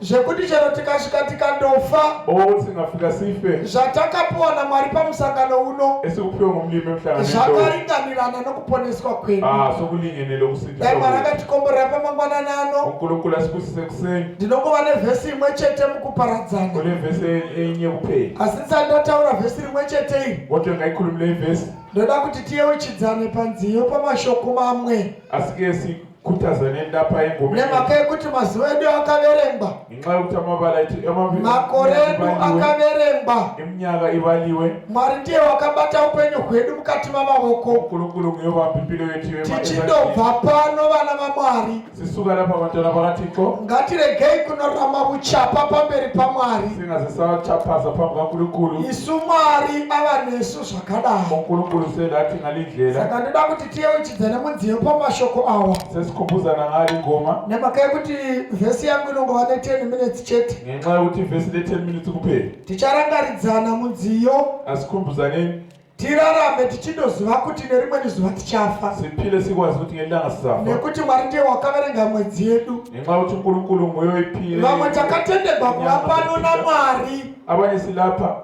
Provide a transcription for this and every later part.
zvekuti chero tikasvika tikandofa or tingafika sife zvatakapiwa namwari pamusangano uno esikuphiwe ngumlimi emhlangano zvakaringanirana nokuponeswa kwedu ah sokulingenele ukusindiswa dai mwari akatikomborera pamangwanani ano unkulunkulu asibusise kuseni ndinongova nevhesi imwe chete mukuparadzana kule vhesi enye kuphela asi ndisati ndataura vhesi rimwe chete iri kodwa ngayikhulumile ivhesi ndoda kuti tiyeuchidzane panziyo pamashoko mamwe asike si kutaza nendapa yengumi nemhaka yekuti mazuva edu akaverengwa ngenxa yokuti amabala edu makore edu akaverengwa eminyaka ivaliwe mwari ndiye wakabata upenyu hwedu mukati mamaoko mukuru-kuru nguyo vambimbiro yedu tichindobva pano vana vamwari sisuka lapa vantana vakatiko ngatiregei kunorama vuchapa pamberi pamwari singazisachapasa pambi vakuru-kuru isu mwari ava nesu zvakadai mukuru-kuru sedatingalindlela saka ndoda kuti tiyeuchidzana mudziyo pamashoko awa sesikhumbuzana ngalo ingoma nemhaka yekuti vhesi yangu inongova ne10 minutes chete ngenxa yokuti vhesi ne10 minutes kuphela ticharangaridzana mudziyo asikhumbuzaneni tirarame tichindoziva kuti nerimweni zuva tichafa siphile sikwazi ukuthi ngelanga sizafa nekuti mwari ndiye wakaverenga mwedzi yedu ngenxa yokuthi unkulunkulu nguye oyiphile vamwe takatenderwa kuva pano namwari abanye silapha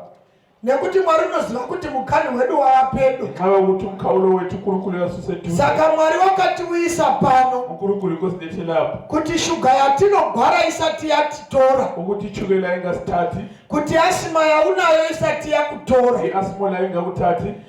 nekuti mwari unoziva kuti mukani wedu wava pedo ava kuti mukaulo wetu kuri kureva susedu saka mwari wakatiuyisa pano ukuri kuri kusinetilapa kuti shuga yatinogwara isati yatitora ukuti chukela ingasitati kuti asima yaunayo isati yakutora asimo lainga kutati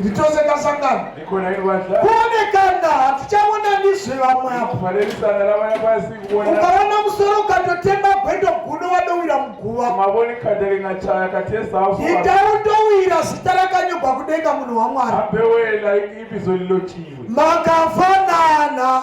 nditose kasangano kuone kanda hatichaona ndizve vamwe apo ukaona musoro ukatotema gwendo guno wadowira muguva itautowira zita rakanyogwa kudenga munhu wamwari makafanana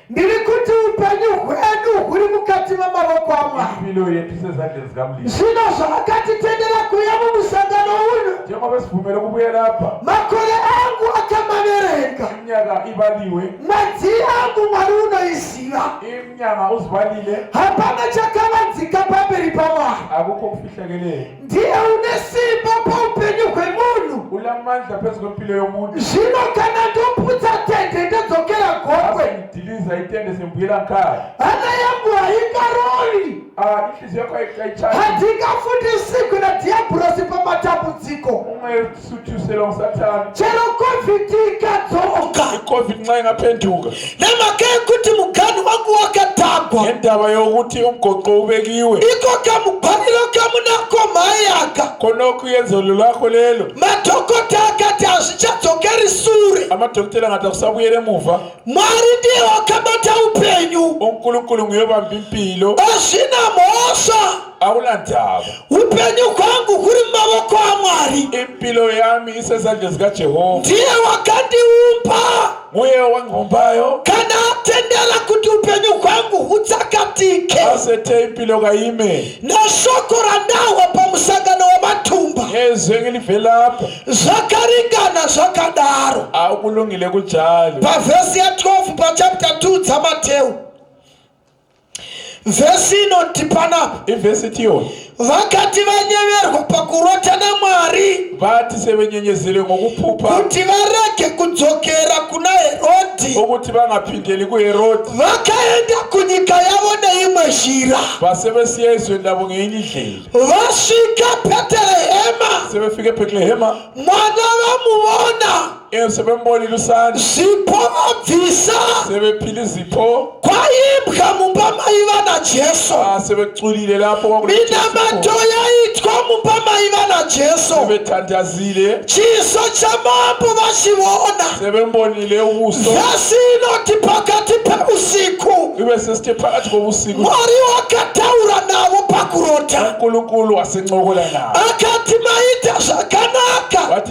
ndiri kuti upenyu hwedu huri mukati memaoko amwari zvino zvaakatitendera kuya mumusangano uno makore angu akamaverenga mwedzi angu mwari unoiziva hapana chakavanzika pamberi pamwari ndiye une simba paupenyu hwemunhu ulamandla phezu kwempilo yomuntu zvino kana ndoputsa tende ndodzokera gokwe ndiliza itende sembuyela nkaya hana yangu haingaroli ah, inhliziyo yakho ayichani handingafundi siku nadhiyabhurosi pamatambudziko chero covid ikadzoka covid nxa ingapenduka nemhaka yekuti muganhu wangu wakatagwa nendava yokuti umgoqo ubekiwe iko kamubhaliro kamunako mhayaka konoku yenzolo lwakho lelo madhokota akati hazvichadzokeri sure amadhokotela angati akusabuyele muva mwari ndiye wakabata upenyu unkulunkulu nguye vambi mpilo azvina mhosva hauna ndava upenyu kwangu kuri mumavoko amwari impilo yami isezandla zikajehova ndiye wakandiumba muye wangombayo kana atendera kuti upenyu kwangu hutsakatike asete impilo kaime nashoko randahwa pamusangano wematumba yezwi engilivelapha zvakaringana zvakadaro akulungile kujalo pavhesi ya 12 pachapta 2 dzamateu Vhesi inotipa na ivhesi itiwo vakati vanyeverwa pakurota namwari vati sevenyenyezere ngokupupa kuti varege kudzokera kuna herodhi okuti vangapindeli kuherodhi vakaenda kunyika yavo neimwe zhira vasevesiya izwe ndavo ngeinyi ndlela vasvika betelehema sevefike betelehema mwana vamuvona Ee, sebemboni lusani zvipo vabvisa sebephile izipho kwaimbwa mumba maiva najesu ah, sebeculile lapho minamato yaitwa mumba maiva najesu sebethandazile chiso chamambo vachiona sebembonile ubuso vhasi inoti pakati peusiku ibe sesithe phakathi kobusiku mwari wakataura navo pakurota unkulunkulu wasencokola nabo akati maita zvakanaka wathi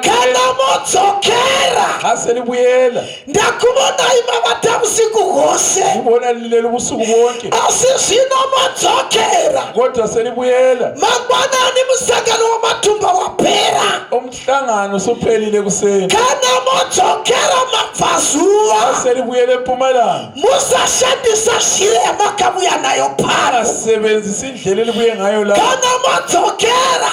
kana modzokera asiri kuyenda ndakuvonayi mavata vusiku hwose ndivona lileli vusiku vonke asi zvino modzokera kodwa asiri kuyenda mangwanani musangano wamatumba wapera umhlangano suphelile kuseni kana modzokera mabvazuva asiri kuyele mpumalanga musashandisa shire yamakavuya nayo phara sebenzisa indlela elibuye ngayo la kana modzokera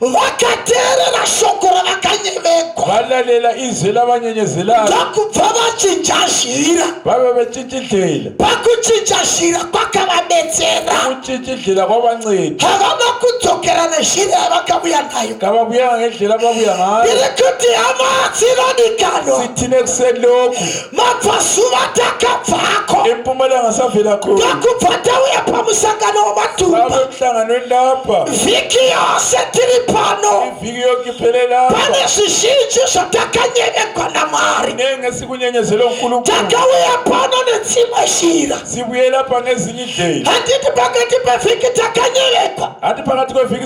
vakateerera shoko ravakanyevegwa valalela izwi lavanyenyezelaka ndokubva vachinja zhira vave vechichidlela pakuchinja zhira kwakavabetsera kuchichidlela kwavanceda havana kudzokera nezhira yavakavuya nayo kavavuya ngendlela vavuya nayo ndiri kuti hama dzinodikanwa sitine kuseloku mabvazuva takabvako empumalanga savelako takubva tauya pamusangano wematumbamusangano endapa vhiki yose tiri pano ivhiki yokipererapa pane zvizhinji zvatakanyenyegwa namwari nenge sikunyenyezelo nkulu takauya pano nedzimwe shira zibuyela pane zinyi dei handiti pakati pevhiki takanyenyegwa hati pakati kwevhiki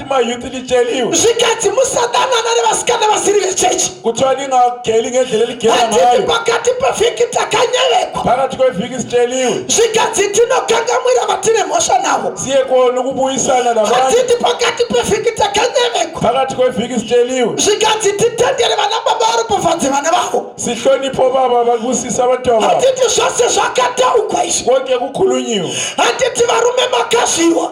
My youth will tell you. zvikanzi musadanana nevasikana vasiri vechechi kuti vandingageli ngendlela eligela handiti ngayo pakati pevhiki takanyerekwa pakati kwevhiki siteliwe zvikanzi tinokangamwira vatine mhosva navo siye kona kubuyisana navanhu handiti pakati pevhiki takanyerekwa pakati kwevhiki siteliwe zvikanzi titendere vana baba vari pafadzi vana vavo sihlonipho baba vakusisa vantu ava handiti zvose zvakataugwa izvi konke kukhulunyiwe handiti varume makazviwa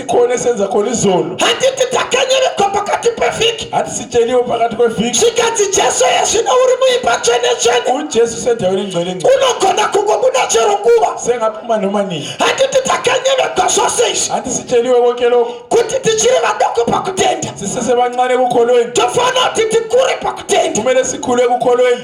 kone senza kone zolo handiti takanyerekwa pakati pevhiki hatisicheniwo pakati kwevhiki zvikanzi jesu yezvino uri muimba tsvenetsvene ujesu senta uri ngcwenengce unogona kungobuda chero nguva sengapuma nomaningi handiti takanyerekwa zvose izvi handisicheniwe woke loko kuti tichiri vadoko pakutenda sisese vancane kukholweni tofanira kuti tikure pakutenda kumele sikhule kukholweni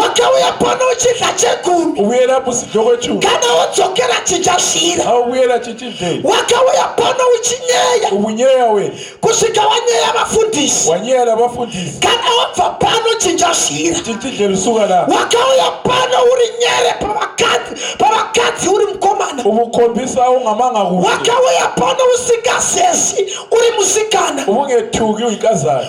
wakauya pano uchidya chegumi uyera busidyo kwechiu kana wodzokera chichasvira auyera chichidei wakauya pano uchinyeya ubunyeya we kusvika wanyeya vafundisi wanyeya navafundisi kana wabva pano chichasvira chichidhe rusuka na wakauya pano uri nyere pavakadzi pavakadzi uri mukomana ubukhombisa ungamanga kuwe wakauya pano usingasesi uri musikana ubungethuki uyikazana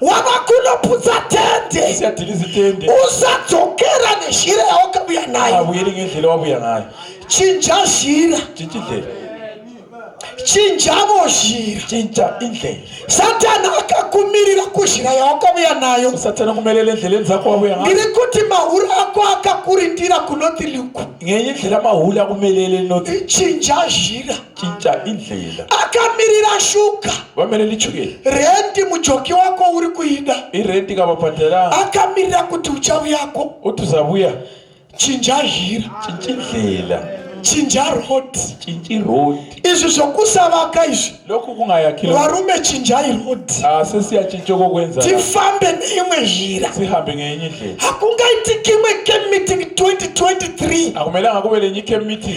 wava kunoputsa tende usadzokera nezhira yawakavuya nayo chinja zhira chinjavo zhira chinja indlela satani akakumirira kuzhira yawakavuya nayo satani akumerera endleleni dzako wavuya nayo ndiri kuti mahuri ako akakurindira kunoti luku ngenye ndlela mahuli akumelele noti chinja zhira chinja indlela akamirira shuga vamene lichukela rendi mujoki wako uri kuida irendi kavabhadhara akamirira kuti uchauyako kuti uzavuya chinja zhira chinja indlela chinja road chinji road izvi zvokusavaka izvi loku kungayakira varume chinjai road asisi ah, yachinjoko kwenza tifambe neimwe zhira tihambe ngeenye ndlela hakungaitiki imwe camp meeting 2023 akumelanga kuve lenye camp meeting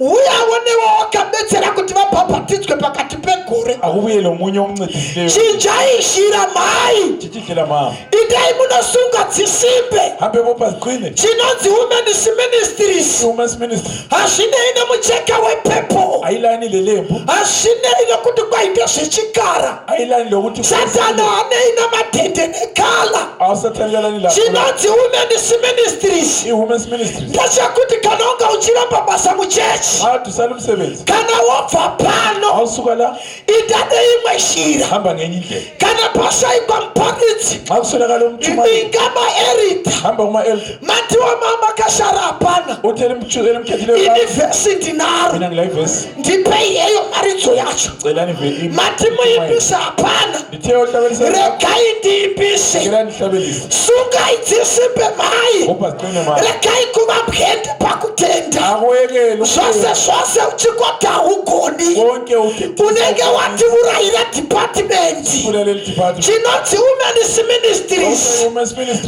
uyawo newe wakabetsera kuti vabhabhatidzwe pakati pegore auye nomunye omncedisileyo chinjai shira mhai chichishira mhama itai munosunga dzisimbe hambe vopa ziqine chinonzi women's ministries women's ministry hazvinei nemucheka wepepo ailaini lelembu hazvinei nekuti kwaita zvechikara satana anei namatende nekala chinonzi women's ministries ndechekuti kana unga uchiramba basa muchechi kana wobva pano ita neimwe shira kana pashaikwa muparidzi inga maerita mandiwa mama kashara hapana ini vhesi ndinaro ndipei yeyo maridzo yacho matimuimbisa hapana regai ndiimbise sungai dzisimbe mai regai kuva bwende pakutenda zvose zvose uchikota hugoni unenge watiurayira dhipatimendi chinonzi women's ministries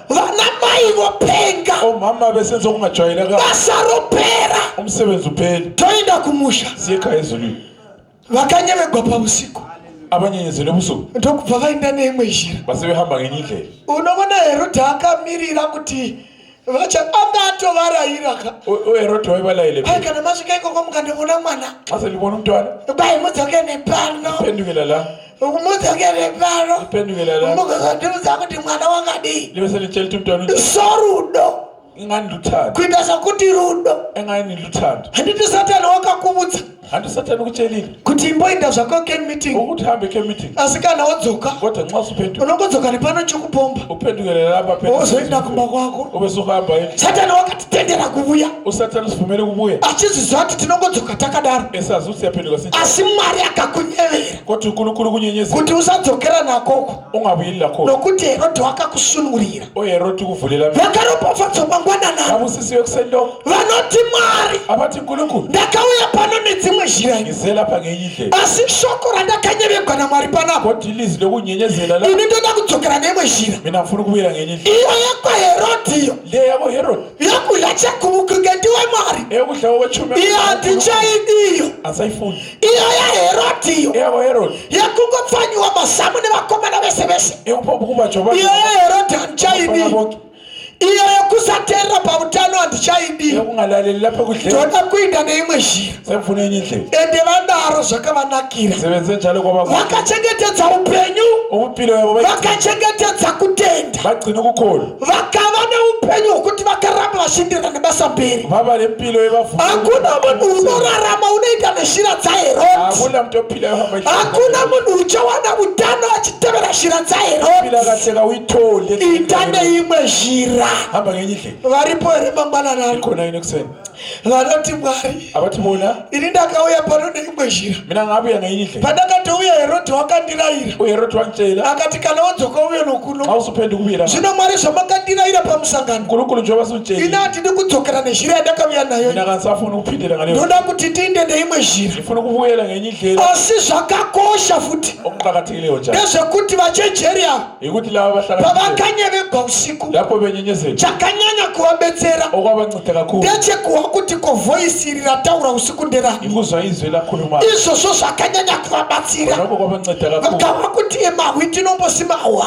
vana mai vopenga oh, mama vese nzokumatsvaira ka basa ropera umsebenzi upeli toenda kumusha siyeka izulu vakanyevegwa pausiku abanyenyezi nebusuku ndokubva vaenda neimwe njira base vehamba ngenyika unovona herodha akamirira kuti vacha anga atovarayira ka uherodha waivalayile ai kana masvika ikoko mukandivona mwana asalivona mtwana bai mudzokene pano pendukela la ukumudzokere pano mukuzondiudza kuti mwana wakadii sorudo kuita sokuti rudo handiti satani wakakuvudza handi satani kuchelile kuti imboinda zvako ken meeting ukuti hambe ken meeting asi kana wodzoka kodwa nxa usuphenduka unongodzoka nepano chokupomba uphendukele lapha phela wozoenda kumba kwako ubesuhamba yini satani wakatitendera kuvuya usatani usivumele kubuya achiziziva kuti tinongodzoka takadaro esazi usiyaphenduka si asi mwari akakunyevera kuti kuri kuri kunyenyesa kuti usadzokera nakoko ungabuyilila ko nokuti herode wakakusunungurira uye herode kuvhulela vakaropafadzwa mangwanana kabusisi yokusendo vanoti mwari abati nkulunkulu ndakauya pano nedzimwe zhira ngizela pa ngenyi ndlela asi shoko randakanyevegwa namwari panapo koti ilizwi lokunyenyezela la ini ndoda kudzokera neimwe zhira mina mfuna ukubuyela ngenyi ndlela iyo yakwaherode iyo le yako herode yokudya chekuvukinge ndiwe mwari eyokudla kokwechumi iyo handinchaidiyo asayifuni iyo yaherodiyo yekungopfanyiwa mazamu nevakomana vese vese iyo yaherodi handichaidi iyo yekusaterera pautano handichaidi ndoda kuinda neimwe zhira ende vanaro zvakavanakira vakachengetedza upenyu vakachengetedza kutenda vakava neupenyu hwekuti vakaramba vachindirira nebasa mberi hakuna munhu unorarama unoita neshira dzaherodhakuna munhu uchawana utano achitevera shira dzaherodhita neimwe zhira varipo here mangwananari vanoti mwari ini ndakauya pano neimwe zhira pandakatouya herodhi wakandirayira akati kana wodzoka uye noku zvino mwari zvamakandirayira pamusangano ini handidi kudzokera nezhira yandakaviya nayo ndoda kuti tiinde neimwe zhira asi zvakakosha futi ndezvekuti vachejeri ava pavakanyevegwa usiku chakanyanya kuvabetsera ndechekuwa kuti ko voisi iri rataura usiku nderani izvozvo zvakanyanya kuvabatsira vakava kuti emahwi tinombosimahwa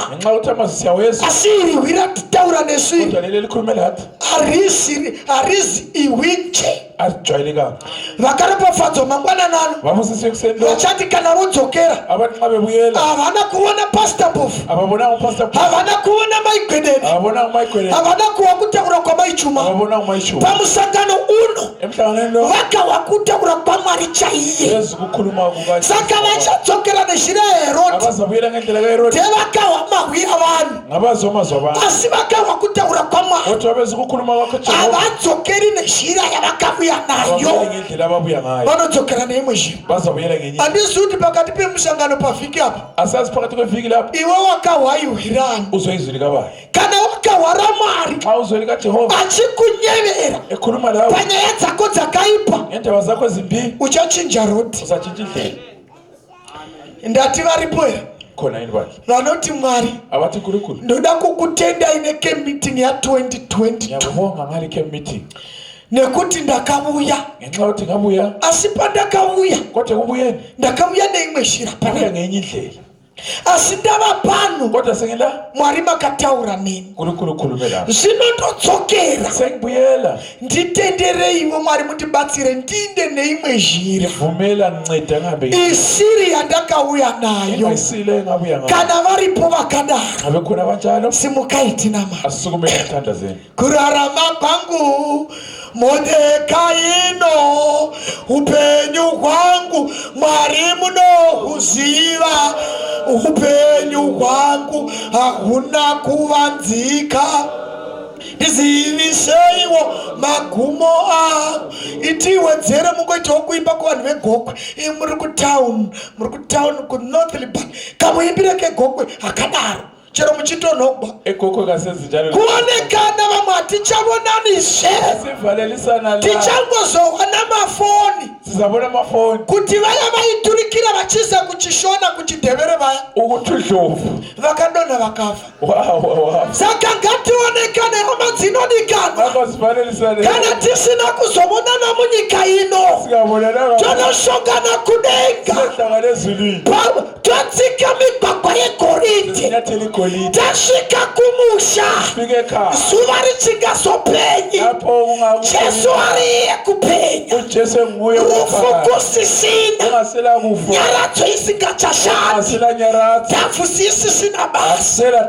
asi iri hwi ratitaura nesviri harizi ihwi nje vakaropafadzwa mangwanani ano vachati kana vodzokera havana kuona pasta mbofu havana kuona maigwedeni havana kuwa kutaura kwamaichuma pamusangano uno vakawa kutaura kwamwari chaiye saka vachadzokera nezhira yeherodi tevakawa mahwi avanhu asi vakarwa kutaura kwamwarihavadzokeri nezhira yavakavuya nayo vanodzokera neimwe zhiraandizi kuti pakati pemusangano pavhiki apa iwe wakahwaiwirani kana wakahwara mwari achikunyevera e, panyaya dzako dzakaipa uchachinja roti ndati varipo here vanoti mwari ndoda kukutendai nekemeeting ya 2022 nekuti ndakavuya ngenxa kuti ngavuya asi pandakavuya kote ubuye ndakavuya neimwe shira pane ngenye indlela asi ndava pano mwari makataura neni zvino ndodzokera nditendereiwo mwari mundibatsire ndiinde neimwe zhira isiri yandakauya nayo kana varipo vakadaro simukai tinamata Kurarama kwangu Modekaino, upenyu hwangu Mwari munohuziva, upenyu hwangu hahuna kuvanzika ndiziviseiwo magumo avo itiwedzere mungoitawo kuimba kuvanhu vegokwe ii muri kutown muri kutown kunorth liban kamuimbire kegokwe hakadaro chero muchitonhogwa kuonekana vamwe hatichavonani zvee tichangozohwa namafoni kuti vaya vaiturikira vachiza kuchishona kuchidhevere vaya vakadonha vakafa saka ngationekane hama dzinodikanwa kana tisina kuzovonana munyika ino tonoshongana kudenga totsika migwagwa yegoridhe tasvika kumusha zuva richingazopenyi jesu ariye kupenya rufu kusisina nyaradzo isingachashandi dhafu sisisina basa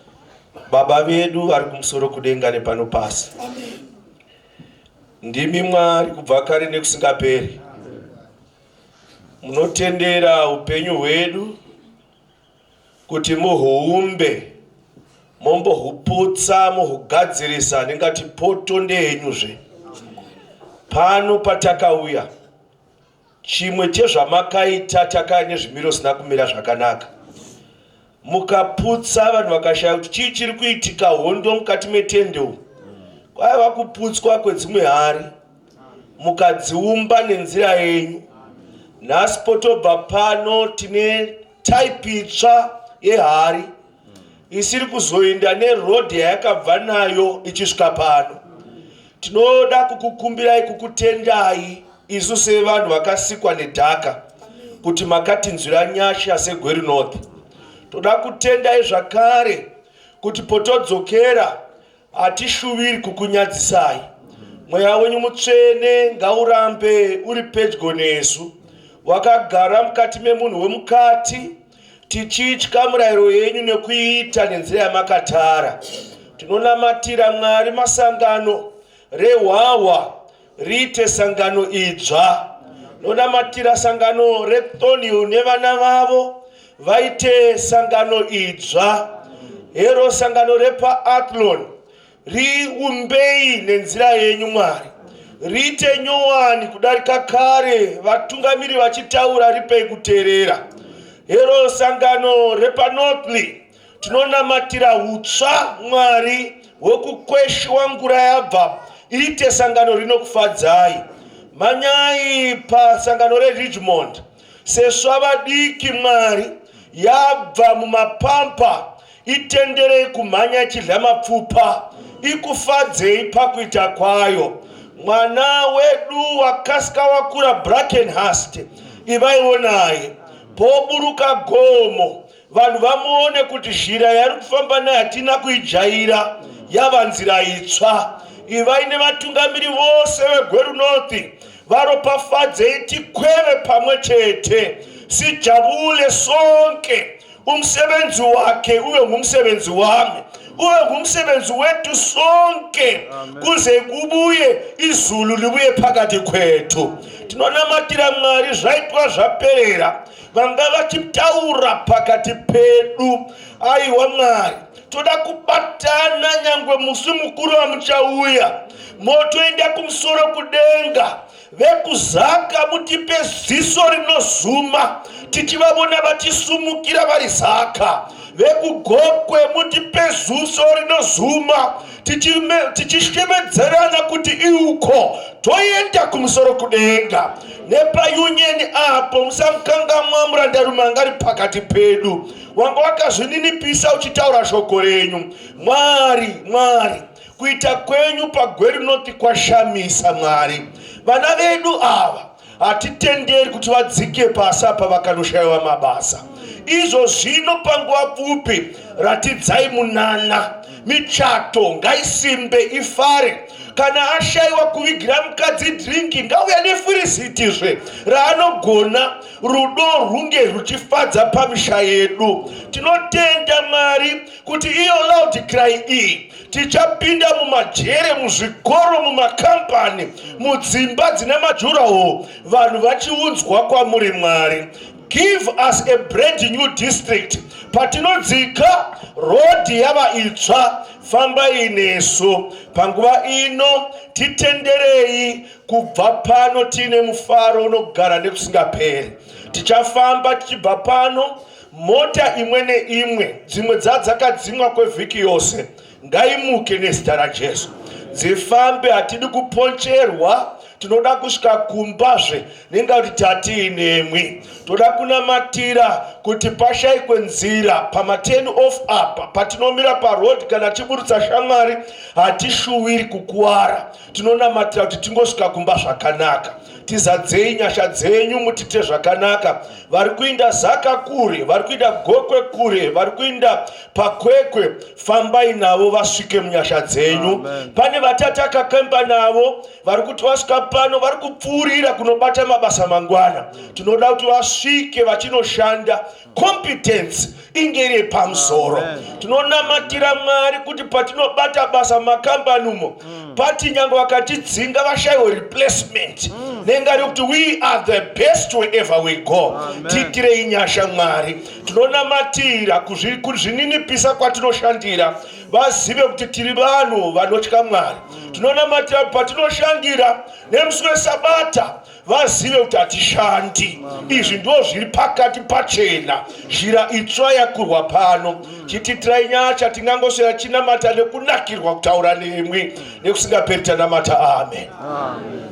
Baba vedu vari kumusoro kudenga nepano pasi, ndimi Mwari kubva kare nekusingaperi. Munotendera upenyu hwedu kuti muhuumbe, mombohuputsa, muhugadzirisa, ndingati poto ndeyenyuzve pano patakauya Chimwe chezvamakaita Takai nezvimiro zvisina kumira zvakanaka mukaputsa vanhu vakashaya kuti chii chiri kuitika hondo mukati metende umu kwaiva kuputswa kwedzimwe hari mukadziumba nenzira yenyu nhasi potobva pano tine type itsva yehari isiri kuzoinda neroad yayakabva nayo ichisvika pano tinoda kukukumbirai kukutendai isu sevanhu vakasikwa nedhaka kuti makatinzwira nyasha segweri north toda kutendai zvakare kuti potodzokera Hatishuviri kukunyadzisai. Mweya wenyu mutsvene ngaurambe uri pedyo nesu, wakagara mukati memunhu wemukati, tichitya murayiro yenyu nekuiita nenzira yamakatara. Tinonamatira Mwari masangano rehwahwa riite sangano idzva nonamatira sangano retonio nevana vavo vaite sangano idzva hero sangano repaatlon riumbei nenzira yenyu mwari riite nyowani kudarika kare vatungamiri vachitaura ripei kuteerera hero sangano repanotly Tinonamatira hutsva Mwari hwekukweshwa ngura yabva iite sangano rinokufadzai. Manyai pasangano reRidgemond seswa vadiki Mwari yabva mumapampa itenderei kumhanya ichidya mapfupa ikufadzei pakuita kwayo. Mwana wedu wakasika wakura Brackenhurst ivaiwo naye poburuka gomo vanhu vamuone kuti zhira yari kufamba nayo hatina kuijaira yava nzira itsva ivai nevatungamiri vose vegweru north varopafadzei tikweve pamwe chete sijabule sonke umsebenzi wakhe ube ngumsebenzi wami ube ngumsebenzi wethu sonke kuze kubuye izulu libuye phakathi khwethu tinonamatira mwari zvaitwa zvaperera vanga vachitaura pakati pedu aiwa mwari toda kubatana nyangwe musi mukuru wamuchauya motoenda kumusoro kudenga vekuzaka mutipe ziso rinozuma tichivavona vachisumukira vari zaka vekugokwe mutipe zuso rinozuma tichishemedzerana kuti iuko toenda kumusoro kudenga nepayunyeni apo musamukangamwa murandarume anga ari pakati pedu wanga wakazvininipisa uchitaura shoko renyu mwari mwari kuita kwenyu pagweri noti kwashamisa mwari vana vedu ava hatitenderi kuti vadzike pasi apa vakanoshayiwa mabasa izvo zvino panguva pfupi ratidzai munana michato ngaisimbe ifare kana ashayiwa kuvigira mukadzi drinki ngauya nefurisitizve raanogona rudo rwunge rwuchifadza pamisha yedu tinotenda mwari kuti iyo loud cry iyi tichapinda mumajere muzvikoro mumakambani mudzimba dzine majuraho vanhu vachiunzwa kwamuri mwari give us a brand new district patinodzika rodhi yava itsva fambai nesu panguva ino titenderei kubva pano tiine mufaro unogara nekusingaperi tichafamba tichibva pano Mota imwe neimwe, dzimwe dzadzakadzimwa kwevhiki yose, ngaimuke nezita raJesu, dzifambe. Hatidi kuponcherwa, tinoda kusvika kumbazve nenga kuti tatiinemwi. Toda kunamatira kuti pashaikwe nzira pamateni off apa patinomira paroad kana tiburutsa shamwari, hatishuwiri kukuwara. tinonamatira kuti tingosvika kumba zvakanaka tizadzei nyasha dzenyu mutite zvakanaka vari kuinda zaka kure vari kuinda gokwe kure vari kuinda pakwekwe fambai navo vasvike munyasha dzenyu pane vatatakakemba navo vari kuti vasvika pano vari kupfuurira kunobata mabasa mangwana tinoda kuti vasvike vachinoshanda competence inge iri pamusoro tinonamatira mwari kuti patinobata basa makambani umo mm. pati nyange vakatidzinga vashaiwe replacement mm. nenga rekuti we are the best wherever we go tiitirei nyasha mwari tinonamatira kuzvininipisa kwatinoshandira vazive kuti tiri vanhu vanotya mwari mm. tinonamatira patinoshandira nemusi wesabata vazive kuti hatishandi izvi ndo zviri pakati pachena zhira itsva yakurwa pano chititirai nyaya chatingangosvera chinamata nekunakirwa kutaura nemwi nekusingaperi tanamata amen, amen.